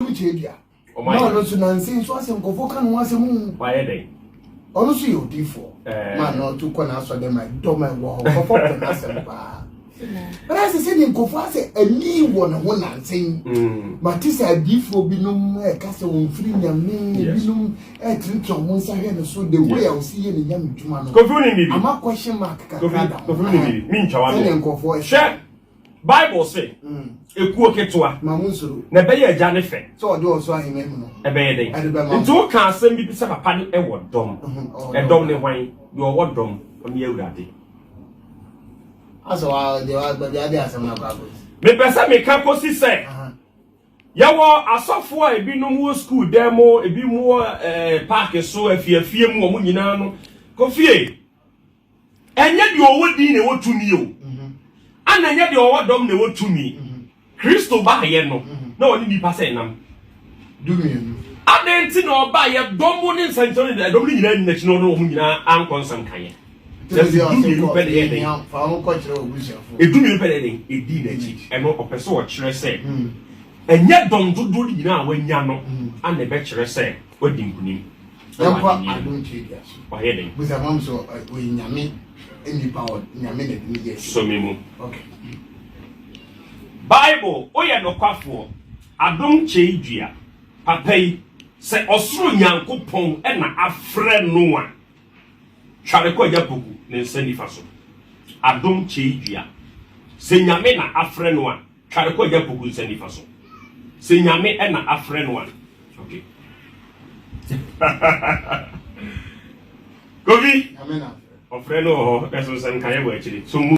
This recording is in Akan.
ɔno kyɛ dua na ɔno nso nansi nso asɛ nkɔfo ka ne ho asɛm mu wayɛ dɛ ɔno nso yɛ odiifoɔ eh. ma na ɔto kɔ n'asɔ dɛ ma dɔm a ɛwɔ hɔ nkɔfo pɛ n'asɛm paa bɛrɛ asɛ sɛ deɛ nkɔfo asɛ ani wɔ ne ho nansi mm. ma te sɛ adiifoɔ binom ɛka sɛ wɔn firi nyame binom ɛtenetena wɔn nsa hwɛ ne so de wo yɛ ɔsi yɛ ne nyame dwuma no ama kɔhyɛ mark kakra da ho sɛdeɛ nkɔfo ɛhyɛ Bible se, Ekuo ketewa, na ɛbɛyɛ agya ne fɛ. Ɛbɛyɛ dɛn? Nti woka asɛm bi sɛ papa no ɛwɔ dɔm. Ɛdɔm ne hwan? Deɛ ɔwɔ dɔm, ɔne Awurade. Mepɛ sɛ meka kɔsi sɛ yɛwɔ asɔfoɔ a ebinom wɔ skuul dan mu, ebinom wɔ eh, paake so, afiafie mu, wɔn nyinaa no. Kofie! Ɛnyɛ deɛ ɔwɔ din na ɛwɔ tumi o, ana ɛnyɛ deɛ ɔwɔ dɔm na ɛwɔ tumi. Kristo baeɛ no, na ɔne nnipa sɛ nam. Dumienu. Adɛn nti na ɔbaeɛ? Dɔm ne nsɛnkyerɛnne na dɔm no nyinaa nni n'akyi na ɔne wɔn nyinaa ankɔ nsɛm kaeɛ. Kyerɛ sɛ dumienu pɛ na ɛyɛ dɛn? Dumienu pɛ na ɛyɛ dɛn? Ɛdii n'akyi. Ɛno ɔpɛ sɛ ɔkyerɛ sɛ ɛnyɛ dɔm dodoɔ no nyinaa a wɔanya no na ɛbɛkyerɛ sɛ wadi nkonim. Yɛmfa adom tadua so. Wayɛ dɛn? Busa mam sɛ ɔyɛ nyame nnipa hɔ nyame na ɛde ne yɛ so me mu. Okay. Bible woyɛ nokwafoɔ adom kyɛi dua papa yi sɛ ɔsoro Nyankopɔn na afrɛ no a tware kɔ agya poku ne nsa nifa so adom kyɛi dua sɛ nyame na afrɛ no a Tware kɔ agya Poku nsa nifa so. Sɛ Nyame na afrɛ no a. Okay. Kofi! Nyame na afrɛ. Ɔfrɛ no wɔ hɔ, nanso nsɛnkaeɛ wɔ akyire. So mu.